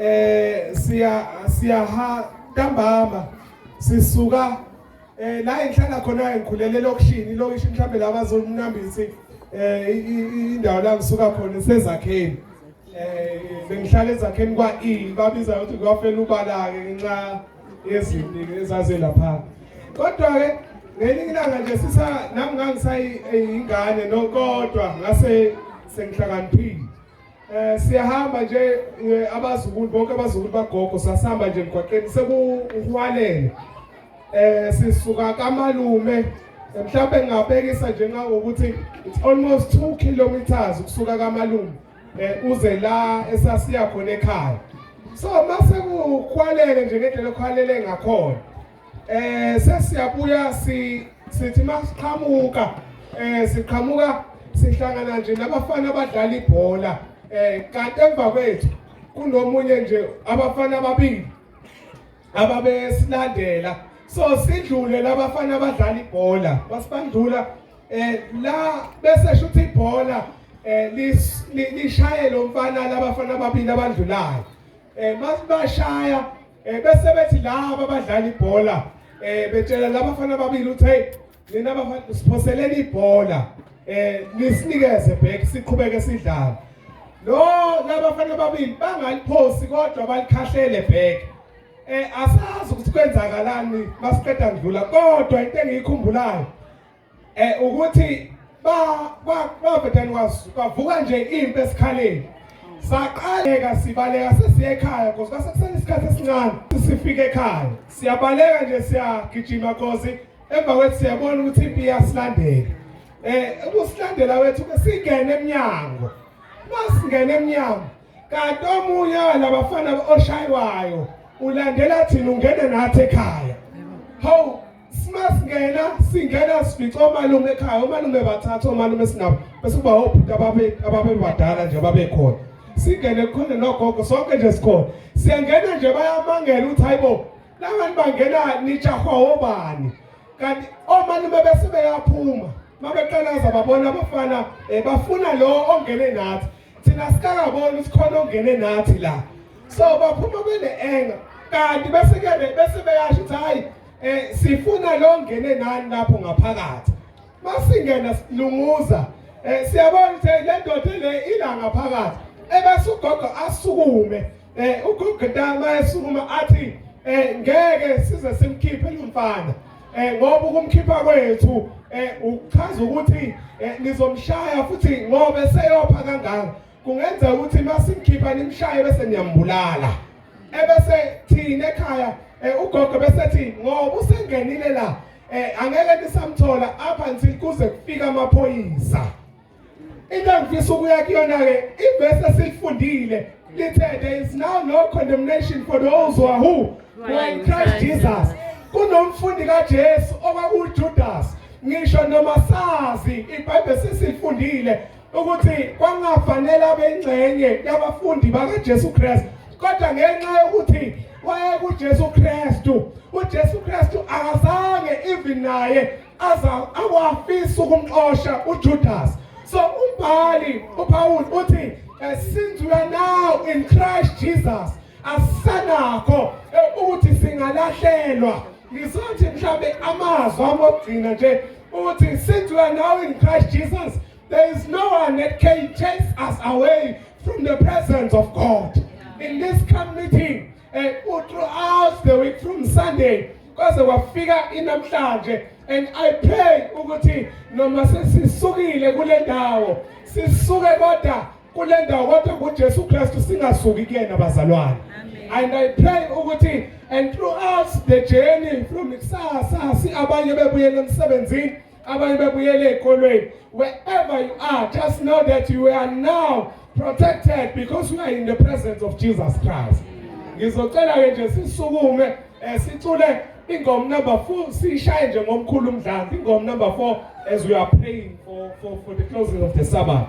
eh siya siya ha ntambama sisuka eh la enhlala khona engikhulele lokishini lokishi mhlambe laba zolunambisi eh indawo la ngisuka khona sezakheni eh bengihlala ezakheni kwa E babiza ukuthi kwafela ubala ke ngenxa yezinto ezaze lapha kodwa ke ngelinye ilanga nje sisa nami ngangisayingane nokodwa ngase sengihlakaniphile Eh siyahamba nje eh, abazukulu bonke abazukulu bagogo sasihamba nje emgwaqeni sekuhwalele. Eh sisuka kamalume mhlawumbe ngingabekisa nje ngangokuthi it's almost 2 kilometers ukusuka kamalume eh uze la esasiya khona ekhaya. So mase kukhwalele nje ngendlela okhwalele ngakhona. Eh sesiyabuya si sithi masiqhamuka eh siqhamuka sihlangana nje nabafana abadlala ibhola eh kanti emva kwethu kunomunye nje abafana ababili ababesilandela so sidlule labafana abadlala ibhola basibandlula eh la bese shuthi ibhola eh lishaye lo mfana labafana ababili abandlulayo eh masibashaya Eh bese bethi laba abadlala ibhola eh betshela laba bafana ababili uthi hey nina bafana siphoseleni ibhola eh nisinikeze back siqhubeke sidlala. Lo laba bafana ababili bangaliphosi kodwa balikhahlele back. Eh asazi ukuthi kwenzakalani masiqeda ngidlula kodwa into engiyikhumbulayo eh ukuthi ba ba bafetani kwasu bavuka nje impi esikhaleni saqaleka sibaleka sesiya ekhaya because kwasekusele isikhathi esincane sifike ekhaya siyabaleka nje siyagijima cause emva kwethu siyabona ukuthi impi iyasilandela eh ukusilandela wethu singene emnyango masingene emnyango kanti omunye walabafana oshaywayo ulandela thina ungene nathi ekhaya hawu Simasingena singena sifica omalume ekhaya omalume bathatha omalume sinabo bese kuba obhuti ababe ababebadala nje babekhona. Singene khona nogogo sonke nje sikhona. Siyangena nje bayamangela ukuthi hayibo labantu bangena nijahwa obani. Kanti omalume bese beyaphuma. Mabeqalaza babona abafana eh, bafuna lo ongene nathi. thina sikakaboni ukuthi khona ongene nathi la so baphuma bene-enga kanti bese-ke bese beyasho ukuthi hhayi um sifuna lo ngene nani lapho ngaphakathi masingena silunguza um siyabona ukuthi le ndoda le ila ngaphakathi ebese ugogo asukume um ugogo ntama esukuma athi um ngeke size simkhiphe lo mfana eh ngoba ukumkhipha kwethu eh ukuchaza ukuthi eh, nizomshaya futhi ngoba eseyopha kangaka kungenzeka ukuthi masimkhipha nimshaye bese niyambulala ebese thina ekhaya eh, ugogo besethi ngoba usengenile la eh angeke nisamthola up until kuze kufika amaphoyisa into engifisa ukuya kuyona-ke ivesi esilifundile lithe there is now no condemnation for those who are who who are in christ jesus kunomfundi kajesu okwakuwujudas ngisho noma sazi ibhayibheli sesilifundile ukuthi kwangafanele abe ingxenye yabafundi bakajesu kristu kodwa ngenxa yokuthi wayekujesu kristu ujesu kristu akazange even naye aza awafisa ukumxosha uJudas so umbhali uPaul uthi eh, since we are now in Christ Jesus asanakho eh, ukuthi singalahlelwa ngizothi mhlambe amazwi amogcina nje uthi since we are now in Christ Jesus there is no one that can chase us away from the presence of God in this community and throughout the week from Sunday kwaze kwafika inamhlanje and I pray ukuthi noma sesisukile kule ndawo sisuke kodwa kule ndawo kodwa kuJesu Kristu singasuki kuyena bazalwane and I pray ukuthi and throughout the journey from kusasa si abanye bebuyela emsebenzini abanye bebuyele ey'kolweni wherever you are just know that you are now protected because you are in the presence of jesus christ ngizocela-ke nje sisukume um sicule ingoma number four siyishaye nje ngomkhulu umdlanzi ingoma number four as we are praying for, for, for the closing of the sabbath